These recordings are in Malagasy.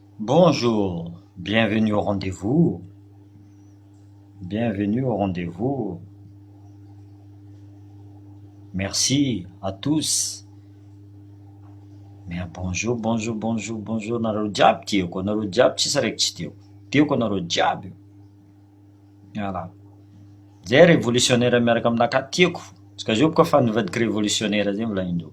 Bonjour, bienvenue au rendez-vous, bienvenue au rendez-vous, merci à tous, mais bonjour bonjour bonjour bonjour nareo jiaby tiako anareo jiaby tsisy raiky tsy tiako, tiako anareo jiaby, voilà zay revolisiônera miaraka aminakahy tiako, tsy ka zao boka fa nivadika revolisiônera zay volahin-dreo.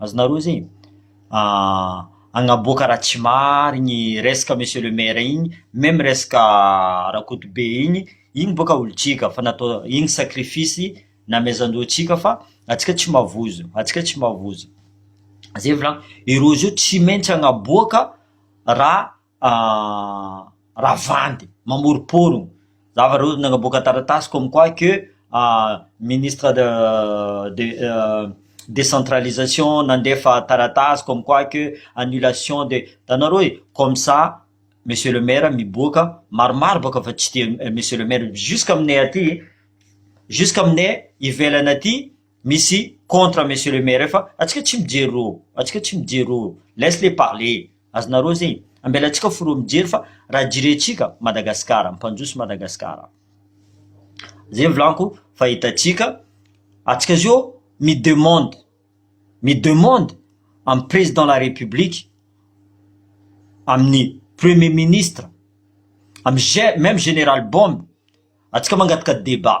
Azonareo izay e? Ahh, agnaboaka raha tsy marigny resaka monsieur le maire igny, même resaka Rakotobe igny, igny boka olontsika fa natao igny sacrifice namezan-dreo antsika fa antsika tsy mavozo, antsika tsy mavozo. Zay volagny, i Rojo tsy maintsy agnaboaka raha Ravandy mamoromporogno zava reo nagnaboaka taratasy comme quoi que ministre de de décentralisation nandefa taratasy comme quoi que annulation de hitanareo e comme ça monsieur le maire miboaka maromaro boka fa tsy tia monsieur le maire jusk'aminay aty jusk'aminay ivelany aty misy contre monsieur le maire fa antsika tsy mijery rô antsika tsy mijery rô laisse les parler azonareo zegny ambelantsika fo rô mijery fa raha jirentsika Madagasikara mpanjoso Madagasikara zegny volaniko fa hitantsika antsika zio mi demande mi demande amin'ny président la république amin'ny premier ministre amin'ny ge- même général bombe antsika mangataka débat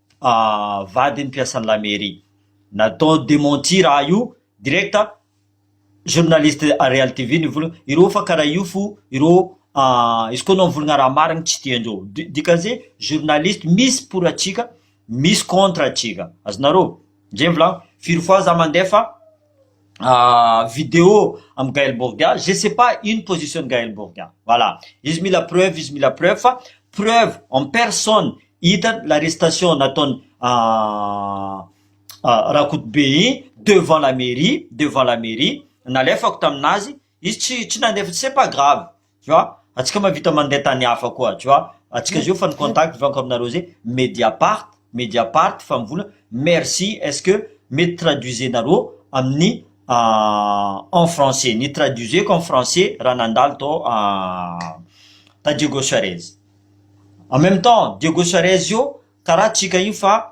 vadiny mpiasan'ny la mairie natao dementir ah io direct journaliste real TV nivolagna ireo fa karaha io fo ireo izy koa anao mivolagna raha marigny tsy tiandreo dikan'ze journaliste misy pour antsika misy contre antsika azonareo zay volagno firy fois za mandefa vidéo am Gaël Borgna, je sais pas ino position ny Gaël Borgna, voilà izy mila preuve izy mila preuve fa preuve en personne hitany l'arrestation nataony Rakotobe iny devant la mairie devant la mairie nalefako taminazy Izy tsy tsy nandeha fa c'est pas grave tu vois, antsika mahavita mandeha tany hafa koa tu vois, antsika zao efa ny contact efa aminareo zay, mediapart mediapart fa mivola merci est ce que mety traduisenareo amin'ny en français, ny traduiseko en français raha nandalo tao ta Diego Suarez, en meme temps Diego Suarez io karaha antsika io fa.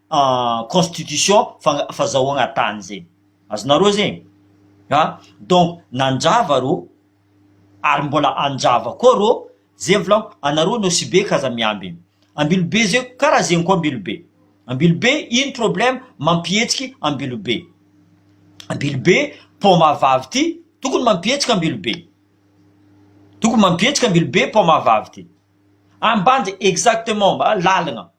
constitution fa fazahoagna tany zay, azonareo zay e, a donc nandrava rô ary mbola handrava koa rô, zay volagno, anareo nosy be ka aza miambigny, Ambilobe zay karaha zegny koa Ambilobe, Ambilobe ino problème mampihetsiky Ambilobe, Ambilobe paoma vavy ty tokony mampihetsiky Ambilobe, tokony mampihetsiky Ambilobe paoma vavy ty, Ambanja exactement, lalagna.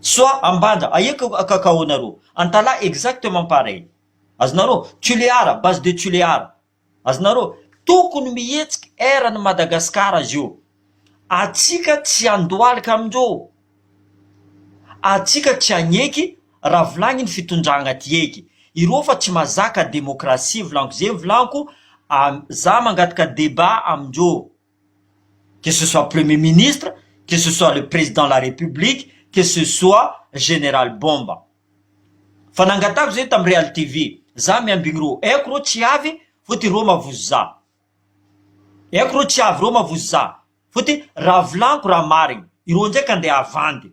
Soit Ambanja, aia ka kakaonareo? Antalaha exactement pareil. Azonareo? Tulear, base de Tulear. Azonareo? Tokony mihetsiky air an'i Madagascar azy io. Atsika tsy handohalika amindreo. Atsika tsy hagneky raha volagniny fitondragna ty eky. Ireo fa tsy mazaka demokrasia volanko ze volanko, a za mangataka debat amindreo. que ce soit premier ministre, que ce soit le président de la république, que ce soit général bomba fa nangatahako zay tam real TV za miambigny rô aiko rô tsy avy fô ty rô mavozo za aiko rô tsy avy rô mavozo za fô ty raha volaniko raha marigny irô ndraiky andeha havandy.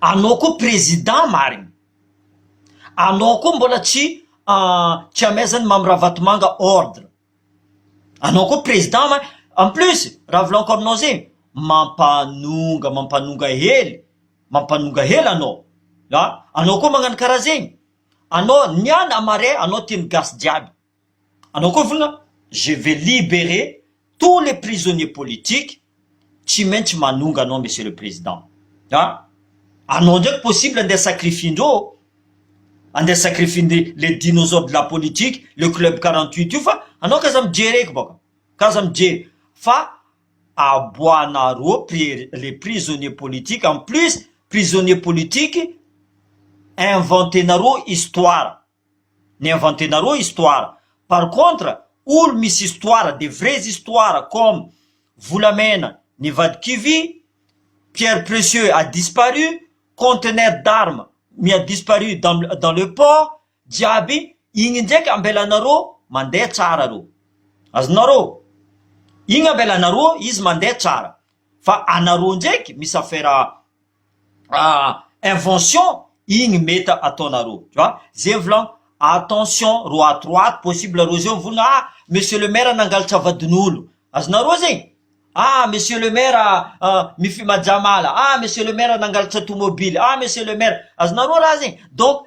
Anao koa président marigny, anao koa mbola tsy tsy amezan'i Mamy Ravatomanga ordre, anao koa président ma- en plus raha volagniko aminao zay mampanonga mampanonga hely mampanonga hely anao an, anao koa magnano karaha zegny, anao niala marais anao tian'ny gasy jiaby. Anao koa vona je vais liberer tous les prisonniers politiques tsy maintsy manonga anao monsieur le président a! Anao ndraiky possible andeha sacrifiendreo ô! Andeha sacrifiendry les dinosaures de la politique, le club quarante huit io fa anao k'aza mijery eky bôka, k'aza mijery fa aboahanareo les prisonniers politiques, en plus prisonniers politiques inventenareo histoire. Ni inventer nareo histoire par contre olo misy histoire des vrais histoires comme volamena nivadi kivy, pierre precieux a disparu, contenaire d'armes mi a disparu dans dans le port jiaby igny ndraiky ambelanareo mandeha tsara reo azonareo igny ambelanareo izy mandeha tsara fa anareo ndraiky misy affaire invention igny meta ataonareo tu vois zay volagno attention ro ato ro ato possible ro zay mivolagna ah monsieur le maire nangalatra vadin'olo azonareo zegny ah monsieur le maire mifimajaha mala ah monsieur le maire nangalatra tomobily ah monsieur le maire azonareo raha zegny donc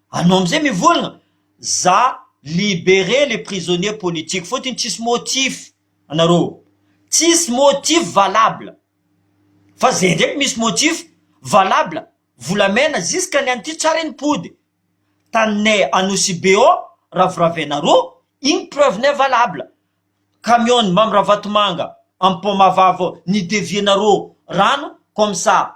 Anao amizay mivolagna za liberer les prisonniers politiques fotony tsisy motif anareo tsisy motif valable fa zay ndraiky misy motif valable volamena ziska ny anty tsara iny pody taninay anosibe ao raviravianareo iny preuve nay valable camion ny mamy ravatomanga am pont mahavavy ao ni devier nareo rano comme ça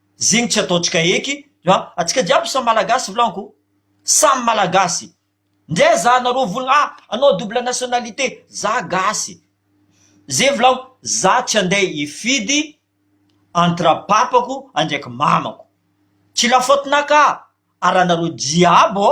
zegny tsy ataontsika eky fa antsika jiaby samy malagasy vlanko samy malagasy ndray za anareo volana ah anao double nationalité za gasy ze vlanko za tsy ande hifidy entre papako andraiky mamako tsy la faute-na ka ary anareo jiaby ô.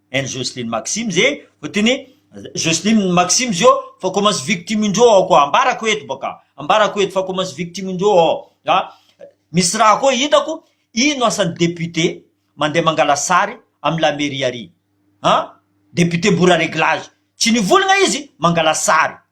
any Jocelyne Maximes e, fa teny hoe Jocelyne Maximes ô, fa koa masy victime indreo ao koa, ambarako eto baka, ambarako eto fa koa masy victime indreo ao, a, misy raha koa hitako, ino asan'ny député mandeha mangala sary amin'ny la mairie ary, an, député mora reglage, tsy nivolagna izy mangala sary,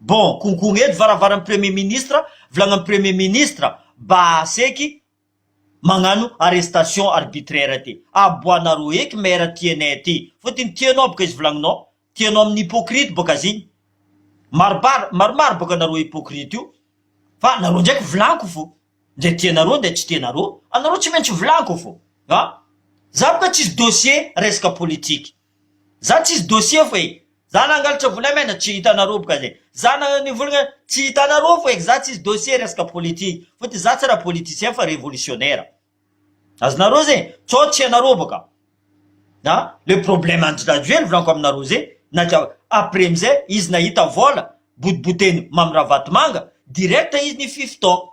Bon, konkogna eto varavaran'ny premier ministre, volagnan'ny premier ministre ba seky magnano arrestation arbitraire ty. Aboanareo eky maire tianay ty, fotony tianao boka izy volagnonao, tianao amin'ny hypocrite boka azy igny. Marobaro, maromaro boka nareo hypocrite io, fa nareo ndraiky volanko fo, ndre tianareo ndre tsy tianareo, anareo tsy maintsy volanko fo, an! Za boka tsisy dossier resaka politique. Za tsisy dossier fo e! Za nangalatra vola MN tsy hitanareo boka zay! Za nanivolagna tsy hitanareo fo e! Za tsisy dossier resaka politique fotony za tsy ra politicien fa revolutionnaire! Azonareo zay? Sao tsy ianareo boka a! Le problème Andry Rajoely volaniko aminareo zay na dia après amizay izy nahita vola botiboteny Mamy Ravatomanga direct izy nifify tao!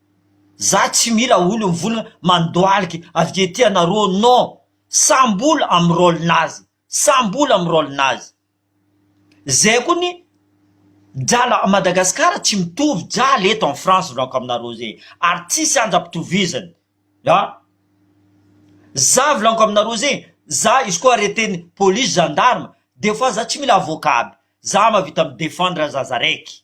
Za tsy mila olo mivolagna mandohalika avike aty anarô non samby olo amy rôle nazy samby olo amy rôle nazy zay koa ny drala a Madagascar tsy mitovy drala eto en France volako aminarô zay ary tsisy andra pitovizany an za volagno aminarô zay za izy koa arreteny police gendarme de fois za tsy mila avocat aby za mavita mi defendre zaza raiky.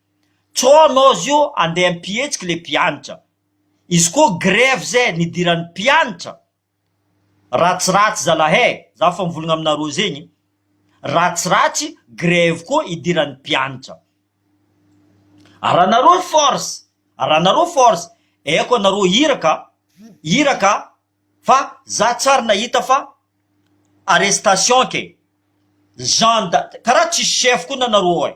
Tsôno ozy io andeha ampihetsiky le mpiantra. Izy koa grevy zay nidiran'ny mpiantra. Ratsiratsy zalahy eh, za fa mivolagna aminareo zegny, ratsiratsy grevy koa idiran'ny mpiantra. Aranareo force, aranareo force, aiko anareo iraka, iraka fa za tsary nahita fa arrestation ke, gendre, karaha tsisy chef koa nanareo eh.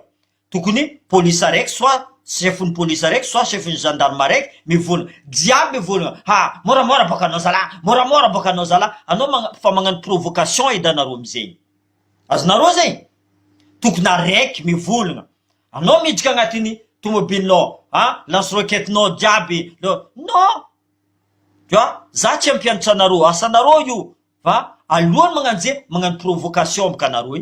Tokony police araiky soit chef ny police araiky soit chef ny gendarme araiky mivôlagna jiaby mivôlagna ha môramôra bôka anao zala môramôra bôka anao zala anao magna fa magnano provocation edy anareo amizegny azonareo zegny tokony araiky mivôlagna anao miditra agnatiny tomobilinao ha lance roquette nao jiaby nao non ja za tsy ampianatranareo asanareo io fa aloany magnano ze magnano provocation bôka anareo e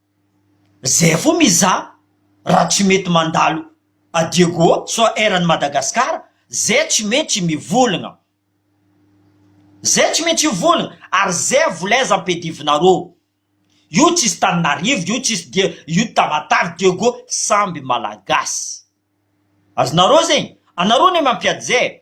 Zay fo mizaha raha tsy mety mandalo à Diego soit eran'i Madagascar zay tsy mety mivolgna zay tsy mety hivolgna ary zay volaizan mpedivinareo io tsisy taninarivo io tsisy dia io tamatave Diego samby malagasy azonareo zegny anareo ne mampiady zay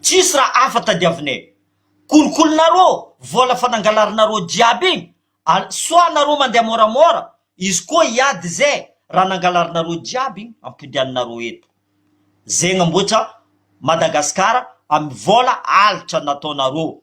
Tsisy raha hafa tadiavinay. Kolikolinareo vola fa nangalarinareo jiaby iny al soit nareo mandeha moramora izy koa hiady ze raha nangalarinareo jiaby iny ampodianinareo eto. Ze namboatra Madagascar am vola alitra nataonareo.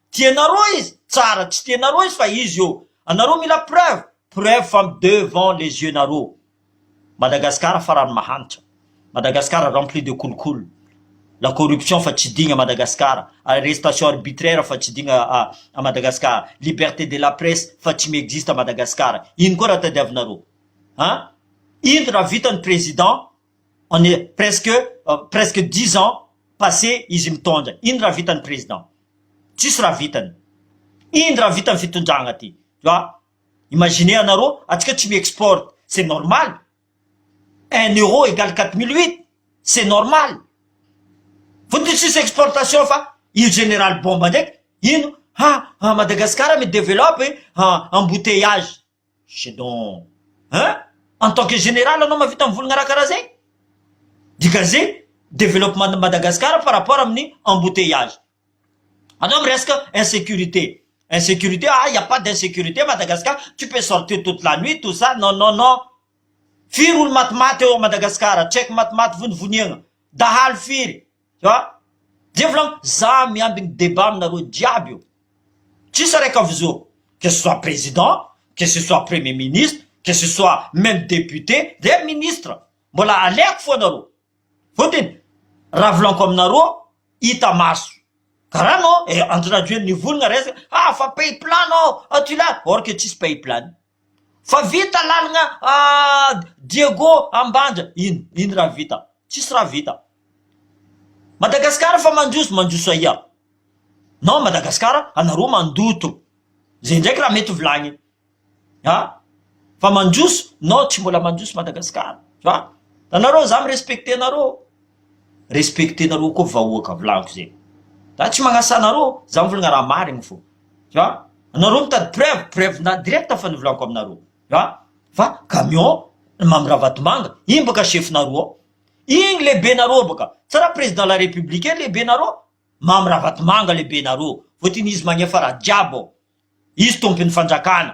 Tianareo izy? Tsara tsy tianareo izy fa izy eo. Anareo mila preuve? Preuve fa mi devant les yeux nareo. Madagascar farany mahantra. Madagascar rempli de kolikoly. La corruption fa tsy digna Madagascar. Arrestation arbitraire fa tsy digna a Madagascar. Liberté de la presse fa tsy mi-existe a Madagascar. Ino koa raha tadiavinareo? An? Ino raha vita ny président? On est presque presque dix ans passe izy mitondra ino raha vitany président tsisy raha vitany ino raha vitany fitondragna ty tu vois imaginez anareo atsika tsy mi export c'est normal un euro egale quatre mille huit c'est normal vao de tsisy exportation fa io general bomba ndraiky ino ha Madagascar mi developpe embouteillage Shedon hein en tant que général anao mavita mivolagna raha karaha zay? Dika ze développement de Madagascar par rapport aminy embouteillage anao miresaka insécurité insécurité ah il n'y a pas d'insécurité à Madagascar tu peux sortir toute la nuit tout ça non non non firy olo maty maty eo Madagascar tsy haiko maty maty vonivoniagna dahalo firy An! Dia volagno, za miamby ny debat aminareo jiaby io. Tsisy araka avy zo. Que ce soit président, que ce soit premier ministre, que ce soit même député, re ministre, mbola aleko fo anareo. Fotony, raha volaniko aminareo, hita maso. Ka ra nao, eh, en traduire ny volagna resaka, ah, fa pays plan nao, aty la, or que tsisy pays plan. Fa vita lalagna Diego Ambanja ino ino raha vita tsisy raha vita Madagascar fa mandroso mandroso aia non Madagascar anareo mandoto zay ndraiky raha mety volagniny a fa mandroso non tsy mbola mandroso Madagascar a tanareo za mi respecte anareo respecte nareo koa vahoaka volagniko zay za tsy magnasa anareo za mivolagna raha marigny fô. tu vois anareo mitady preuve preuve na direct fa nivolako aminareo tu vois fa camion mamy ravatomanga iny bôka chefinareo ao igny lehibenareo bôka tsy raha président la république lehibenareo mamy ravatomanga lehibenareo vao tian'izy magnefa raha jiaby ao izy tompon'ny fanjakana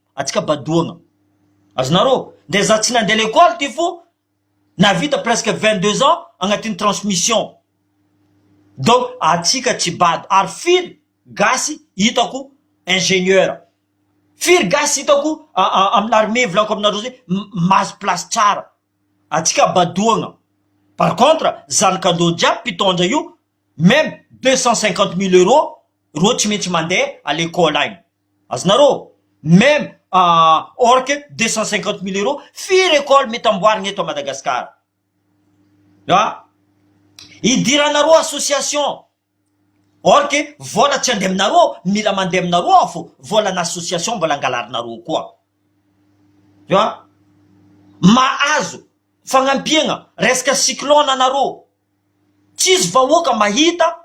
Atsika badoagna azy narô ndray za tsy nandeha lekôly ty fô navita presque vingt deux ans agnatin'ny transmission donc atsika tsy bado ary firy gasy hitako ingenieur firy gasy hitako amin'ny l'armée volako aminareo zay mahazo place tsara atsika badoagna par contre zanakandô jiaby mpitondra io meme deux cent cinquante mille euros rô tsy maintsy mandeha à lekôly agny. Azonareo meme ahh orque deux cent cinquante mille euros firy école mety amboarina eto à Madagascar a hidiranareo association orque vola tsy handeha aminareo mila mandeha aminareo aho fô vola anà association mbola angalarinareo koa a mahazo fagnampiagna resaka cyclone anareo tsisy vahoaka mahita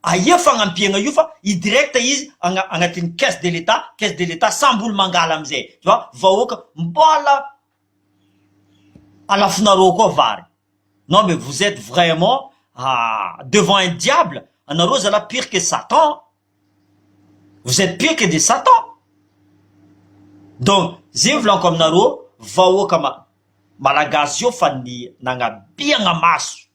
Ahia fagnampiagna io fa i direct izy agna agnatin'ny caisse de l'etat, caisse de l'etat samby olo mangala amizay tu vois, vahoaka mbola alafonareo koa vary non mais vous etes vraiment devant un diable anareo zalah pire que satan an, vous etes pire que des satan donc ze volako aminareo vahoaka ma malagasy zao fa ny nagnabiagna maso.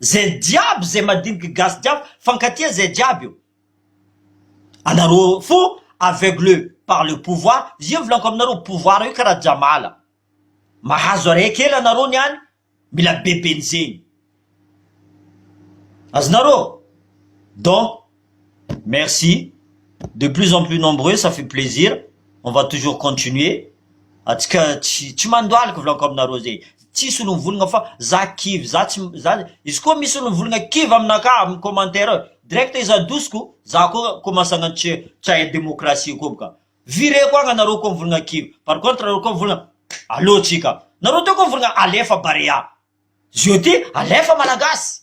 Zay jiaby zay madiniky gasy jiaby fankatia zay jiaby io anareo fo aveugle par le pouvoir zay volako aminareo pouvoir io karaha jamala mahazo areha kely anareo ny any mila be benjegny azonareo donc Merci de plus en plus nombreux ça fait plaisir on va toujours continuer atsika tsy tsy mandohalika volako aminareo zay tsy solon'ny volagna fa za kivy za tsy za izy koa misy solon'ny volagna kivy aminakahy amin'ny commentaire ao direct izy adosiko za koa koa masagna tsy tsy hahay démocratie koa boka vireko agny anareo koa mivolagna kivy par contre nareo koa mivolagna aleo tsika nareo teo koa mivolagna alefa barea zio ty alefa malagasy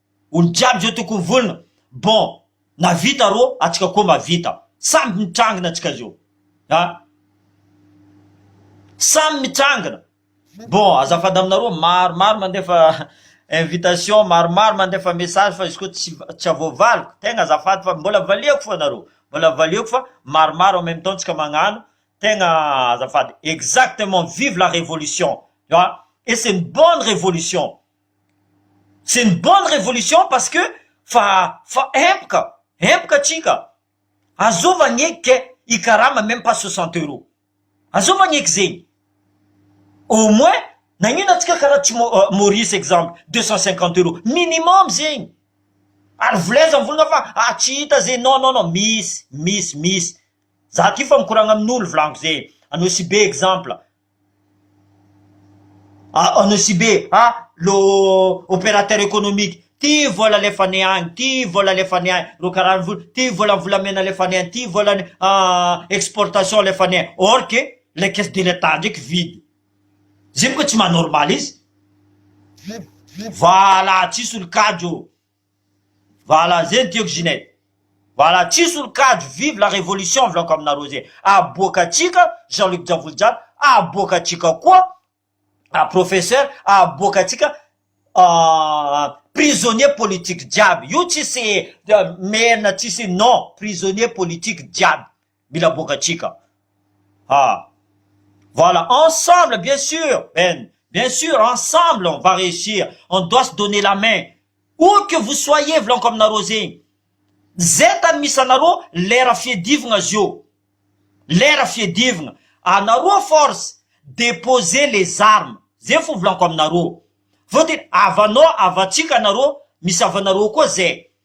Olo jiaby zao tokony vonona bon na vita rô atsika koa mba vita samby mitrangina tsika zao a samy mitrangina bon azafady aminareo maro maro mandefa invitation maro maro mandefa message fa izy koa tsy tsy avoavaliko tegna azafady fa mbola valiako fô nareo mbola valiako fa maro maro en meme temps tsika magnano tegna azafady exactement vive la révolution a et c'est une bonne révolution. C'est une bonne révolution parce que fa fa empoka empoka tsika azova anie ke hikarama meme pas soixante euro azova anie ke zegny au moins nagnino atsika karaha tsy Maurice exemple deux cent cinquante euro minimum zegny ary voleza mivolagna fa ah tsy hita zegny non non non misy misy misy za ty fa mikoragna amin'olo volagno zegny anao sy be exemple. Anosibe a, lo opérateur économique, ty vola alefany any, ty vola alefany any, ro karaha vola, ty vola volamena alefany any, ty vola ny exportation alefany any, or que le caisse de l'etat ndraiky vide, zay mo ka tsy maha normal izy, voaala tsisy olon-kajo. Voilà zay ny tiako Ginette. Voilà tsy hisy olon-kajo vive la révolution volako aminareo zay. Aboaka antsika Jean Luc Javolijalo, aboaka antsika koa Professeur, aboaka antsika prisonnier politique jiaby. Io tsisy merina tsisy non, prisonnier politique jiaby. mila aboakatsika ha voilà ensemble bien sur Ben bien sur ensemble on va réussir on doit se donner la main où que vous soyez volaniko aminareo zegny zay tany misy anareo lera fiadivagna zio lera fiadivagna anareo force déposer les armes zay fo volaniko aminareo fôtony havanao havantsika anareo misy havanareo koa zay.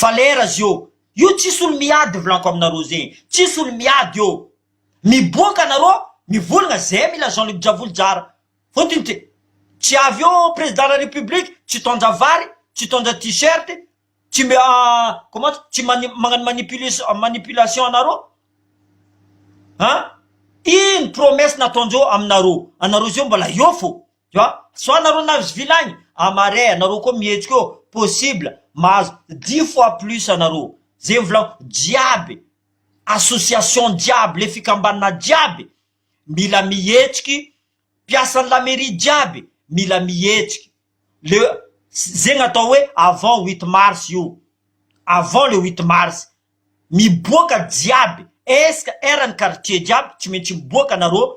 Valera zio. Io tsisy olo miady vlanko aminareo zegny. Tsisy olo miady eo. Miboaka anareo mivolagna zay mila Jean Luc Javoly jara. Fotony ty. Tsy avy eo président la république tsy tondra vary, tsy tondra t-shirt, tsy mbe comment tsy magnano manipulation manipulation anareo. An! Ino promesse nataondreo aminareo. Anareo zio mbola eo fô. Tu vois? Sao nareo nahazo villa agny? A marais nareo koa mihetsika eo, possible mahazo dix fois plus anareo. Zay mivolagna jiaby, association jiaby, le fikambanana jiaby mila mihetsiky, mpiasan'ny la mairie jiaby mila mihetsiky. Le zegny atao hoe avant huit mars io, avant le huit mars. Miboaka jiaby, est-ce que eran'ny quartier jiaby tsy maintsy miboaka nareo.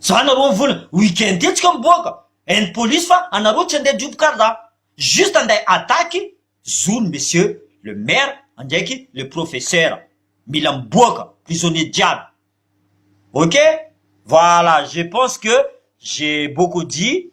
Za nareo vola week-end etsy ka miboaka any police fa anareo tsy andeha job karda juste andeha attaque zony monsieur le maire andraiky le professeur mila miboaka prisonnier jiaby ok voila je pense que j'ai beaucoup dit.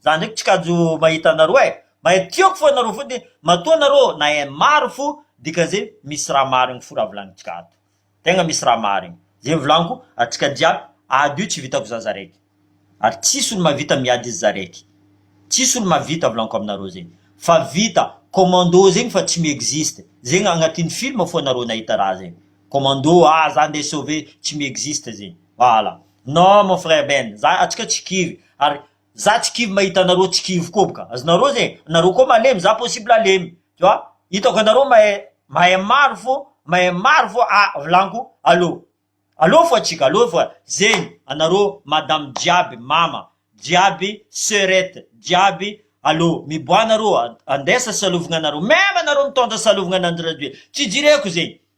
Za ndraiky tsy kajo mahita anareo eh! Mahay tiako fo anareo foty matoa anareo nahay maro fo dikan'izay misy raha marigny fo raha volanintsika ato. Tegna misy raha marigny. Zay ny volaniko antsika jiaby ady io tsy vitako za za raiky. Ary tsisy olo mahavita miady izy za raiky. Tsisy olo mahavita volaniko aminareo zay. Fa vita commando zegny fa tsy mi-existe. Zegny agnatin'ny film fo anareo nahita raha zegny. Commando ah za ndeha sauver tsy mi-existe zegny. Voilà. Non mon frère Ben, za atsika tsy kivy ary za tsy kivy mahita anareo tsy kivy koa bka azonareo ze nareo koa malemy za possible halemy tu vois hitako anareo mahay mahay maro fô mahay maro fô ah vilaniko allo allo fo atsika allo fo zegny anareo madame jiaby mama jiaby soeurette jiaby allo miboaha nareo andeha sasalovignanareo meme anareo mitondra salovigna ananjy radio tsy jireko zegny